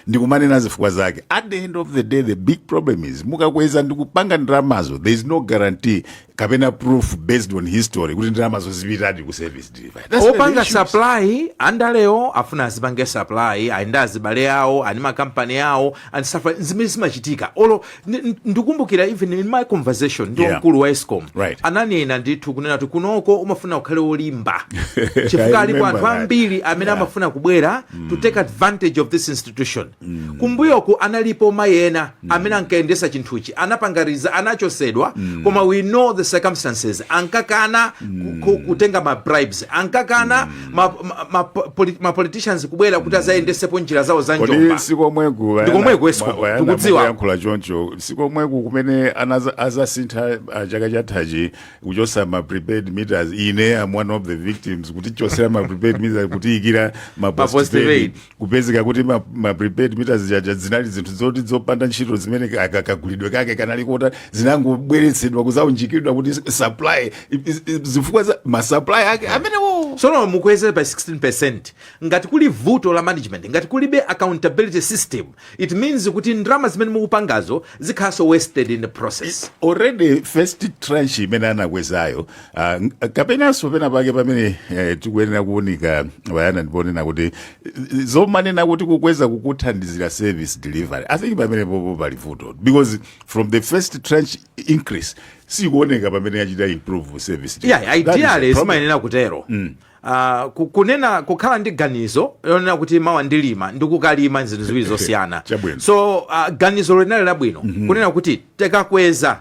ndikumanena zifukwa zake at the end of the day the big problem is mukakweza ndikupanga ndalamazo there is no guarantee kapena proof based on history kuti ndalamazo zipitadi ku service delivery That's where the opanga issue is. supply andalewo afuna azipange supply ayende azibale awo ani makampani awo and stuff like- zimene zimachitika olo Ndi- ndi- ndikumbukira even in my conversation ndi Yeah. wamkulu wa escom Right. ananena ndithu kunena kuti kunoko kumafuna ukhale wolimba I chifukwa alipo remember anthu that. ambiri amene Yeah. amafuna kubwera to take advantage of this institution kumbuyoku analipo mayi ena amene ankayendesa chinthuchi anapanga resign anachosedwa koma we know the circumstances ankakana ku- ku- kutenga ma bribes ankakana ma, ma, ma, poli- ma politicians kubwera kuti azayendesepo njira zawo za njomba kodi sikomweku Ndikomweku escom, ndikudziwa. yankhula choncho sikomweku kumene anaza- azasintha ah, chaka chathachi kuchosa ma prepaid meters ine am one of the victims kutichosera ma prepaid meters kutiikira ma Ma postpaid. postpaid kupezeka kuti ma, ma prepaid meters jaja zinali zinthu zoti zopanda ntchito zimene ka- ka- kagulidwe kake kanali kokhota zinangobweretsedwa kuzaunjikidwa kuti supply i- i- i- zifukwa za ma supply ake amenewo tsono mukweze by 16 ngati kuli vuto la management ngati kulibe accountability system it means kuti ndalama zimene mukupangazo zikhalanso wasted in the process already first tranche imene anakwezayo Ah, n- kapenanso pena pake pamene eh, tikuyenera kuunika Bayana ndi ponena kuti eh, zomanena kuti kukweza kukuthandiza service delivery i think pamenepopo pali vuto because from the first tranche increase sikuoneka pamene yachita improve service delivery. yeah, That is the ideally problem. zimayenera kutero Ah, ku- kunena kukhala ndi ganizo lonena kuti mawa ndikalima ndi kukalima zinthu ziwiri zosiyana Chabwino. so ah, ganizo linali labwino kunena kuti tikakweza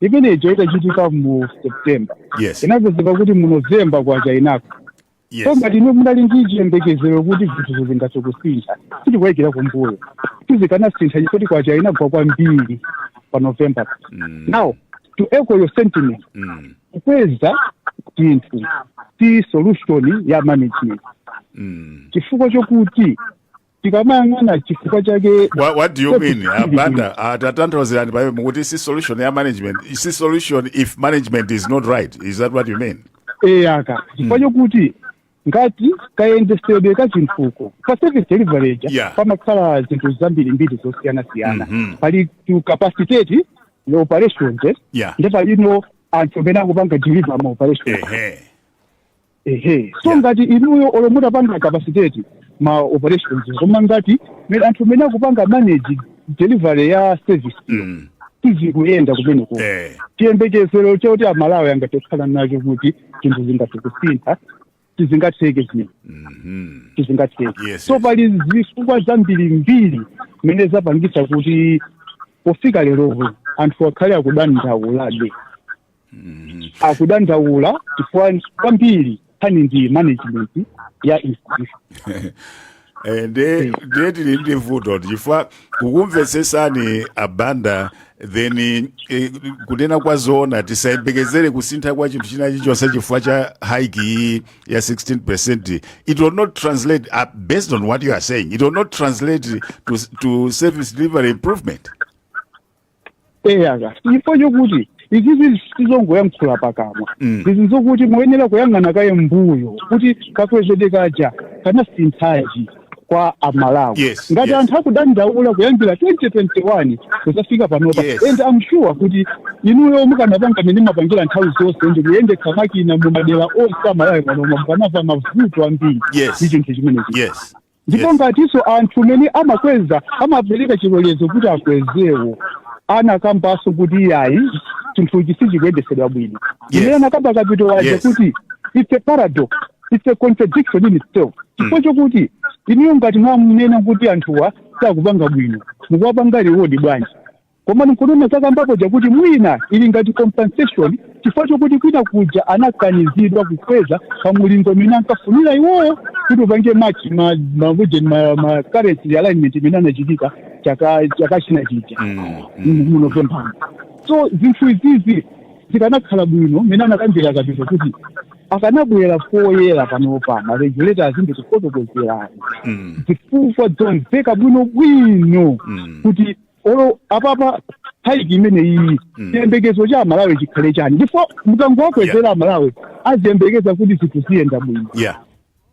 imene ija itachitika mu september yes inapezeka kuti mu november kwacha inagwa yes so ngati munali ndi chiyembekezero kuti zinthu zingathe kusintha tikubwerera kumbuyo sizikanasintha chifukwa kwacha inagwa kwambiri pa november Mm. now to echo your sentiment mm. kukweza chinthu si solution ya management mm. chifukwa chokuti tikamayang'ana chifukwa chake What, what do you mean? A Banda, uh, tatanthauzirani pamene mukuti si solution ya management, si solution if management is not right. Is that what you mean? eya ka chifukwa chokuti ngati kayendesedwe ka chinthuko pa service delivery ja Yeah. pamakhala zinthu zambirimbiri zosiyanasiyana Mhm. pali to capacitate the operations eh? Yeah. nde palinso anthu amene akupanga deliver ma operations Ehe. ehe so Yeah. ngati inuyo olo mutapanga capacitate ma operations koma ngati me- anthu amene akupanga manage delivery ya service Mm. sizikuyenda kumeneko Eh. chiyembekezero choti amalawi angathe kukhala nacho kuti zinthu zingathe kusintha sizingatheke zinthu Mhm. sizingatheke Yes, so yes. pali zifukwa zambirimbiri zimene zapangitsa kuti pofika leropo anthu akhale akudandaulabe akudandaula chifukwa kwambiri nkhani ndi management ya institution Eh, nde nde tili ndi vuto chifukwa kukumvetsetsani a Banda then eh, kunena kwa zoona tisayembekezere kusintha kwa chinthu china chilichonse chifukwa cha hike iyi ya 16 percent it will not translate uh, based on what you are saying it will not translate to, to service delivery improvement eya ka chifukwa chokuti izizi sizongoyankhula pakamwa Mm. izi nzokuti muyenera kuyang'ana kaye mbuyo kuti kakwezedwe kaja kanasinthanji kwa amalawi Yes, ngati yes. anthu akudandaula kuyambira 2021 kuzafika panopa Yes. and I'm sure kuti inuyo mukanapanga mmene mumapangira nthawi zonse ndi kuyendetsa makina mu madera onse a Malawi manoma mukanava mavuto ambiri Yes. ndi chinthu chimenechi yes ndipo Yes. ngatinso anthu mene amakweza amapereka chilolezo kuti akwezewo anakambanso kuti iyayi chinthuchi sichikuyendesedwa bwino Yes. imene anakamba kapito waja Yes. kuti it's a paradox it's a contradiction in itself chifukwa chokuti inuyo ngati mwamunena kuti anthuwa sakupanga bwino mukuwapanga reward bwanji Koma n'kunena za kamba poja kuti mwina ili ngati compensation chifukwa chokuti kwina kuja anakanizidwa kukweza pa mulingo umene ankafunira iwowo kuti upange match ma ma region ma, ma currency realignment imene anachitika chaka chaka china chija mu November. So zinthu izizi zikanakhala bwino mmene anakambira kapito kuti akanabwera poyera panopa ma regulators ndi kufotokozerani zifukwa zomveka bwino bwino kuti olo apapa hike imene iyi Mm. chiyembekezo cha amalawi chikhale chani ndipo mukangowakwezera amalawi aziyembekeza kuti zinthu ziyenda bwino yeah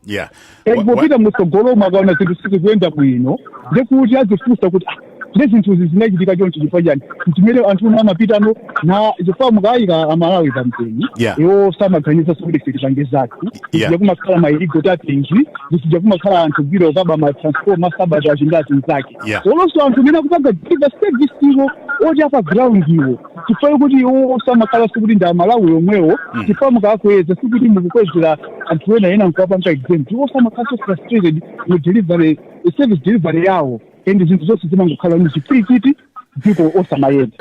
yeah Wa- wa- popita mutsogolomo akaona zinthu sizikuyenda bwino ndekuti azifunsa kuti "Ah, nde zinthu izi zinachitika chonchi chifukwa chani chimene anthu omwe amapitano na chifukwa mukayika amalawi pampeni Yeah. iwoso amaganiza zokuti ife tipange zathu Yeah. zija kumakhala ma illegal tapping zija kumakhala anthu gwira okaba ma transformer sabotage ngati mzake Yeah. olonso anthu amene akupanga deliver service iwo oti apa ground iwo chifukwa kuti iwoso amakhalaso kuti ndi amalawi omwewo chifukwa mukakweza sikuti mukukwezera anthu ena ena mkuwapanga exempt iwoso amakhalaso frustrated mu delivery service delivery yawo and zinthu zonse zimangokhala ni chipwirikiti dziko osamayenda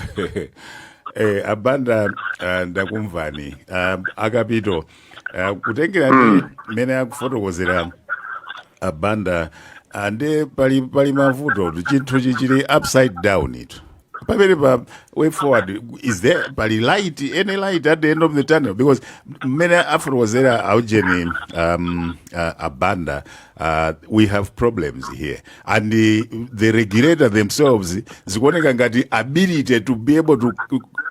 eh, abanda uh, ndakumvani uh, akapito Ah, kutengera ndi mmene akufotokozera abanda ah, nde pali pali mavutotu chinthuchi chili upside down tu pamene pa way forward is there pali light any light at the end of the tunnel because mmene afotokozera aujeni um, ah, abanda Uh, we have problems here and the, the regulator themselves zikuoneka ngati ability to be able to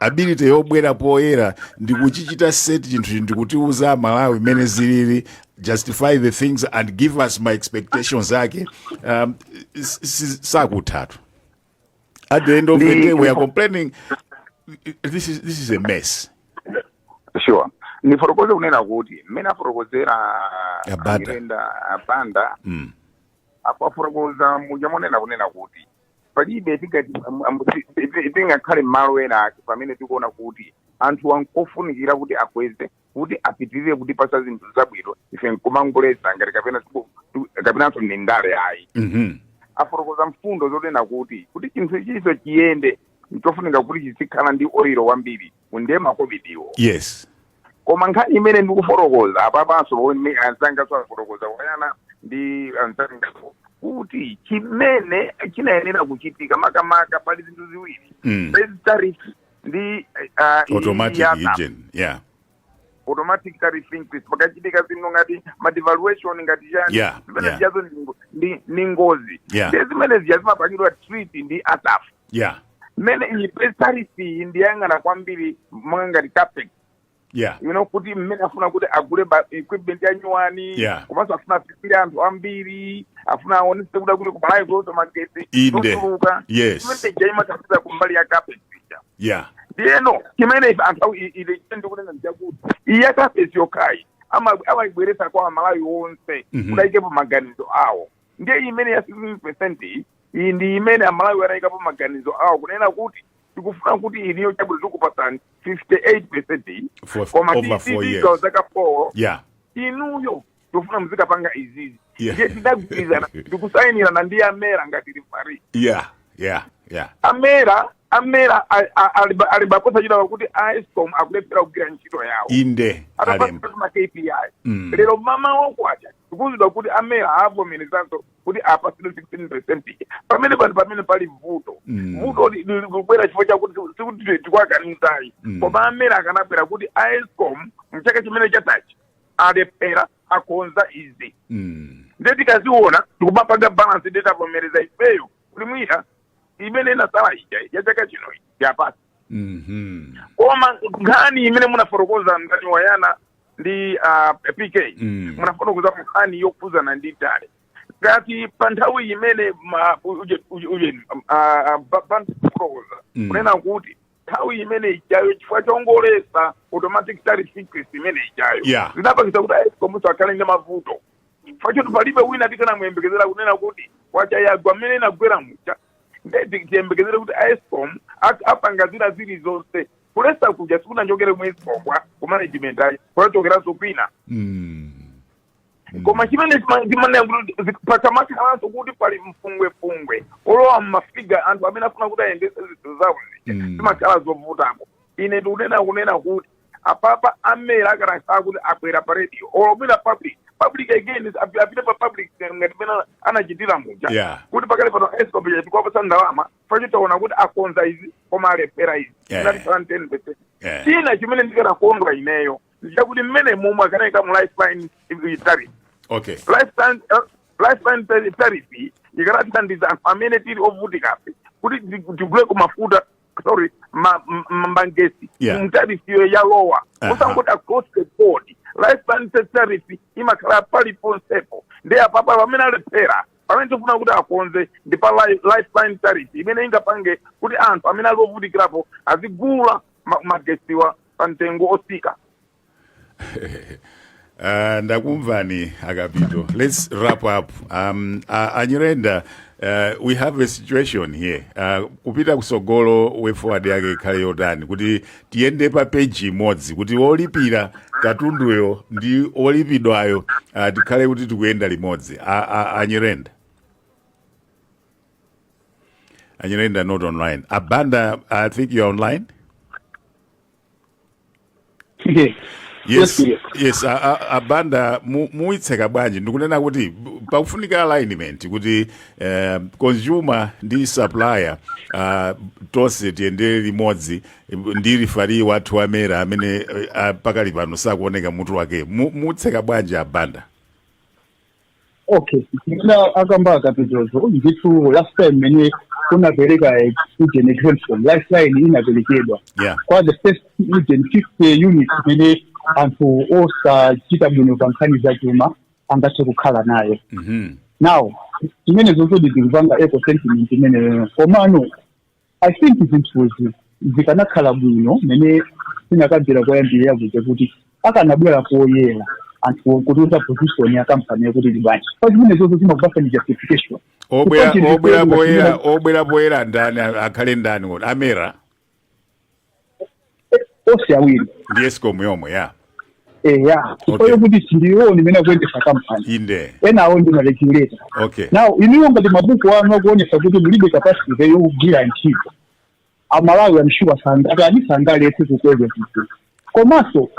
ability yobwera poyera ndi kuchichita set chinthu ndi kutiuza amalawi mmene zilili justify the things and give us ma expectations ake um, s- s- sakuthatu At the end of the, the day, we are complaining. This is this is a mess. Sure. nifotokoze kunena kuti mmene afotokozera amirenda abanda mm. apa afotokoza muja monena kunena kuti palibe tingakhale mmalo ena ake pamene tikuona kuti anthu n'kofunikira kuti akweze kuti apitirire kutipasa zinthu zabwino ife nkumangoletsa ngati kapena siku- tu- kapenanso ndi ndale ayi Mhm. afotokoza mfundo zonena kuti kuti chinthu ichinso chiyende nchofunika kuti chizikhala ndi oilo wambiri ndiye makovidiwo yes koma nkhani imene ndikufotokoza apapanso pomwe anzanganso afotokoza tasiyana ndi anzanga kuti chimene chinayenera kuchitika makamaka pali zinthu ziwiri Mm. Pali tariff ndi ah, iyi automatic ya- ijen yeah automatic tariff increase pakachitika zinthu ngati madevaluation ngati chani Yeah, zimene yeah. zijazo ndi ngo- ndi- ndi ngozi Yeah. ndi zimene zija zimapangidwa treat ndi asaf yeah pomwe iyi tariff iyi ndiyang'ana kwambiri monga ngati capex yeah you know kuti mmene afuna kuti agule equipment ya nyuwani Yeah. komanso afuna afikire anthu ambiri afuna aonese kuda kuti kumalawi zonse magetsi Inde. zotuluka Yes. imene ija imathandiza kumbali ya capex ija yeah ndiyeno chimene ife anthu awo ile ndi kunena ndichakuti iya capex yokhayi ama- amayibweresa kwa amalawi onse Mhm. kudayikepo maganizo awo ndiye imene ya 16 percent iyi ndi imene amalawi anayikapo maganizo awo kunena kuti tikufuna kuti inuyo chabwino tikupatsani 58 percent iyi For- koma over four years. tizigawo zaka 4 yeah inuyo tikufuna muzikapanga izizi Yeah. ndiye tidagwirizana ndikusayinirana ndi amera ngati refari yeah yeah yeah amera amera a- a- aliba- alibabe chidwi pakuti escom akulephera kugwira ntchito yawo inde alemba atapatsa ma kpi lero mmamawa kwacha tikuuzidwa kuti amera avomerezanso kuti apatsidwe 16 percent ija pamene pano pamene pali vuto Mm. vuto li- li- likubwera chifukwa chakuti sikuti ti- tikuwakaniza ayi Mm. koma amera akanabwera kuti escom mchaka chimene chatachi alephera akonza izi Mm. ndiye tikaziona tikupanga balance nde tavomereza ifeyo kuti mwina imene inasala ija ya chaka chino awapatse Mhm. koma nkhani imene munafotokoza ndani tasiyana ndi uh, pk Mm. munafotokoza nkhani yokhuzana ndi ndale ngati pa nthawi imene ma- uje- uje- uje- ah, ah, ba- ba- kufotokoza Mm. kunena kuti nthawi imene ijayo chifukwa chongoletsa automatic tariff increase imene ijayo Yeah. zinapangisa kuti aescomuso akhale ndi mavuto chifukwa choti palibe wina tikanamuyembekezera kunena kuti kwacha yagwa mmene inagwera muja nde tiyembekezere kuti aescom ak- apanga zina zili zonse kuletsa kuja sikunachokere ku escom kwa ku management ayi kunachokeranso kwina Mm. koma chimene ndimanena kuti pasamakhalanso kuti pali mfungwefungwe olowa mmafiga anthu amene afuna kuti ayendese zinthu zawo Mm. zimakhala zovutako ine ndikunena kunena kuti apapa amera akanakhala kuti abwera pa radio or mwina public public again is- api- apite pa public ngati mmene anachitira muja Yeah. kuti pakali pano escom tikuwapatsa ndalama chifukwa taona kuti akonza izi koma alephera izi Yeah. ngati plan 10 percent Yeah. china chimene ndikanakondwa ineyo ndichakuti mmene momwe akanayika mu lifeline tariff okay lifeline eh, lifeline tari- tariff ikanathandiza anthu amene tili ovutikafe kuti ti- tiguleko mafuta sorry ma- m- m- magesi Yeah. mu tariff ya lower Aha. osangoti across the board lifeline ta- tariff imakhala paliponsepo ndi apapa pamene alephera pamene tifuna kuti akonze ndi pa li- lifeline tariff imene ingapange kuti anthu amene ali ovutikirapo azigula ma- magesiwa pa mtengo otsika Uh, ndakumvani a Kapito let's wrap up um, uh, a Nyirenda uh, we have a situation here uh, kupita kusogolo way forward yake ikhale yotani kuti tiyende pa peji imodzi kuti wolipira katunduyo ndi wolipidwayo uh, tikhale kuti tikuyenda limodzi A- a- a Nyirenda A Nyirenda not online. A Banda, I think you're online. Yes. yes Yes, yes a- a- a Banda mu- muitseka bwanji ndikunena kuti b- pakufunika alignment kuti eh, consumer ndi supplier ah, tonse tiyendere limodzi eh, ndi rifari wathu a MERA amene eh, ah, pakali pano sakuoneka mutu wake Mu- mutseka bwanji a Banda okay now akamba a Kapitozo ndithu last time mene unapereka student exemption lifeline inaperekedwa Yeah. kwa the first student 50 units mene anthu osachita bwino pa nkhani za chuma angathe kukhala nayo Mhm. now zimenezo ndikupanga echo sentiment imeneyo komano i think zinthuzi zikanakhala bwino mene ndinakambira poyambirira kuja kuti akanabwera poyera anthu kutiuza position ya kampani yakuti ili bwanji pa zimene zonse zimakupasani justification obwera Chifukwa chinthu obwera choyera poyera ngati obwera poyera ndani akhale ndani kuti a MERA onse awiri ndi escom yomwe ya eya chifukwa Okay. yokuti si ndiwo amene akuyendesa kampani inde enawo ndi maregulator okay now inuyo ngati mabuku anu akuonesa kuti mulibe capacity yogwira ntchito amalawi amshuwa sangakanisiseni kukweza zinthu komanso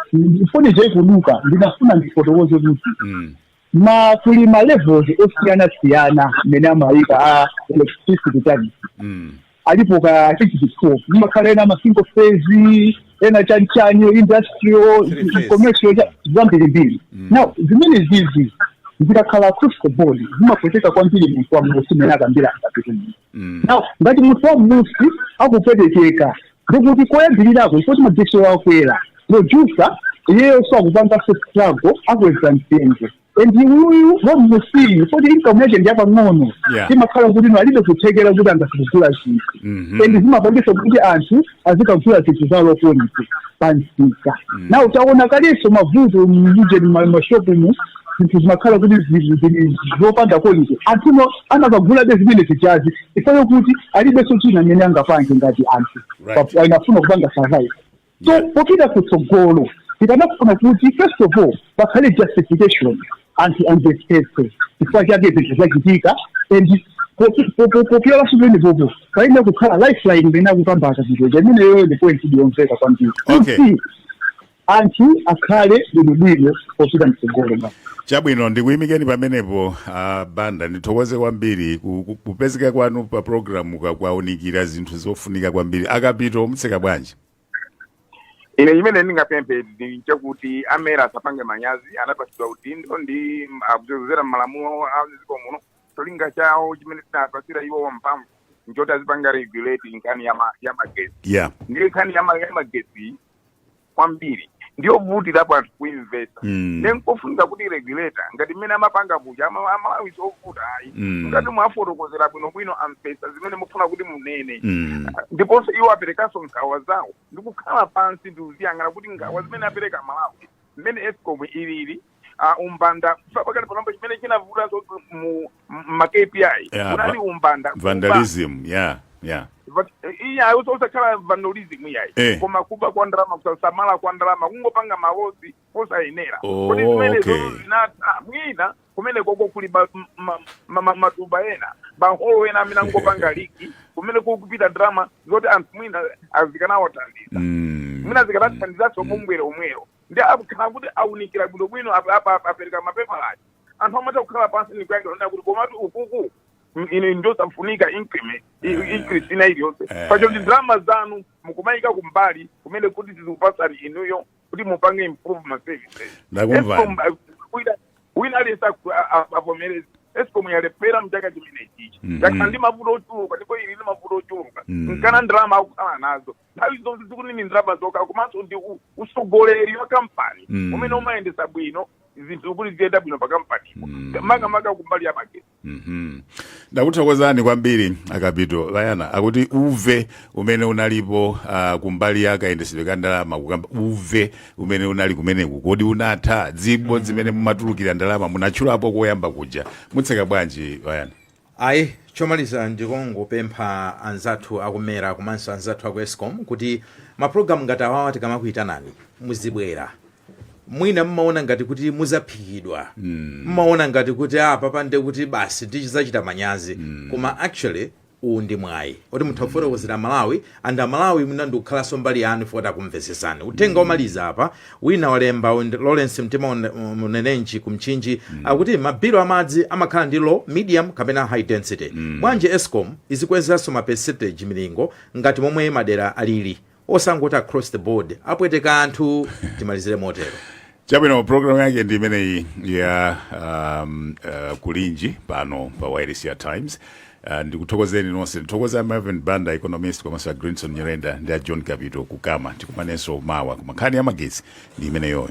foni isakaduke ndinafuna ndifotokoze kuti mm. ma kuli ma levels osiyana siyana mmene amayika a electricity charges mm. alipo a prepaid kumakhala ena ma single phase ena chanchani industrial Three phase. commercial cha- zambirimbiri now zimene zizi zikakhala across the board zimapweteka kwambiri munthu wa mmusi mmene akambira a Kapitomu Mm. now ngati munthu wa mmusi akupwetekeka Ndikuti koyambirirako n'kuti magetsi wakwera producer iyeyo sakupanga struggle akweza mtengo and uyuyu wamunsiyu poti income yake ndi yapang'ono Yeah. imakhala kuti ino alibe kuthekera kuti angasakugula zinthu Mhm. and zimapangisa kuti anthu azikagula zinthu za low quality pamsika now taona kalenso mavuto mujeni mashopu mu zinthu zimakhala kuti zili zili zopanda quality anthu amakagulabe zimene zijazi chifukwa chakuti alibenso china chimene angapange ngati anthu Right. Pa- anafuna kupanga survive so Yeah. popita kutsogolo tikanafuna kuti first of all pakhale justification anthu amvetsetse chifukwa chake zinthu zachitika and poki- po- po- popyola pamenepopo payenera kukhala lifeline imene akupambaka zinthu imeneyoyo ndi point ndiyomveka kwambiri Okay. Kuti anthu akhale bwinobwino popita mtsogolo basi chabwino ndikuyimikeni pamenepo a Banda ndithokoze kwambiri ku- ku- kupezeka kwanu pa programu ka- kuwaunikira zinthu zofunika kwambiri a Kapito mutseka bwanji ine chimene ndingapemphe ndi chakuti a MERA asapange manyazi anapatsidwa udindo ndi kudzera m'malamulo a dziko muno cholinga chawo chimene tinapatsira iwo mphamvu nchoti azipanga regulate nkhani ya ma- ya magetsi yeah ndiye nkhani ya ma- ya magetsi kwambiri ndiyovutirapo anthu kuimvetsa mm. nde n'kofunika kuti regulator ngati mmene amapanga kuja ama- aMalawi sovuta ayi Mm. ngati mwafotokozera bwinobwino amvetsa zimene mufuna kuti munene Mm. ndiponso iwo aperekanso nkhawa zawo ndikukhala pansi ndikuziyang'ana kuti nkhawa zimene apereka aMalawi mmene Escom ilili a umbanda Chifukwa pakati panopa chimene chinavutanso kuti mu ma KPI Yeah, munali va- umbanda kuba. vandalism yeah yeah But, eh, iyayi osakhala vandalism iyayi Eh. koma kuba kwa ndalama kusasamala kwa ndalama kungopanga ma loss osayenera Oh, kodi zimene okay. zozo zinatha mwina kumene koko kuli ba- m- ma- ma- ma- matuba ena mahole ena amene akungopanga liki kumene kukupita ndalama zoti anthu mwina zikanawathandiza mm. mwina zikanathandizanso mbwere omwewo nde akakhala kuti aunikira bwinobwino apa- apa- apa- apereka mapepala aja anthu amatha kukhala pansi ndi kuyankhira kunena kuti komatu ukuku m- ine ndosafunika increment i- increase ina iliyonse Eh. pachoti ndalama zanu mukumayika kumbali kumene kuti tizikupatsani inuyo kuti mupange improve ma services Ndakumvani. Escom, uh, wina- wina aliyense aku- a- a- avomereze Escom yalephera mchaka chimenechichi Mhm. yakhala ndi mavuto ochuluka ndipo ili ndi mavuto ochuluka Mhm. nkhani ya ndalama akukhala nazo nthawi zonse sikuti ndi ndalama zokha komanso ndi u- utsogoleri wa kampani Mm. umene umayendesa bwino zinthu kuti ziyende bwino pa kampani Mm. makamaka kumbali ya magetsi Mhm. ndakuthokozani kwambiri a Kapito Layana akuti uve umene unalipo uh, kumbali ya kayendetsedwe ka ndalama kukamba uve umene unali kumeneku kodi unatha zibowo zimene mumatulukira ndalama munatchulapo koyamba kuja mutseka bwanji Layana Ayi, chomaliza ndikungopempha anzathu a ku mera komanso anzathu a ku escom kuti ma program ngati awawa tikamakuitanani muzibwera. Mwina mmaona ngati kuti muzaphikidwa, mmaona ngati kuti ah apapa nde kuti basi tizachita manyazi koma actually uwu ndi mwayi oti mutha kufotokozera amalawi And amalawi mwina ndikukhalanso mbali yanu chifukwa takumvesesana uthenga omaliza apa wina walemba lawrence mtima unenenji ku mchinji akuti mabilo amadzi amakhala ndi low medium kapena high density bwanji escom izikwezanso ma percentage milingo ngati momwe madera alili osangoti across the board apweteka anthu timalizire motero chabwino programu yake ndi imeneyi ya um, uh, kulinji pano pa wireless times uh, ndikuthokozeni nonse ndithokoza a marvin banda economist komanso a greenson nyirenda ndi a john kapito ku cama tikumanenso mawa koma nkhani ya magetsi ndi imeneyoyo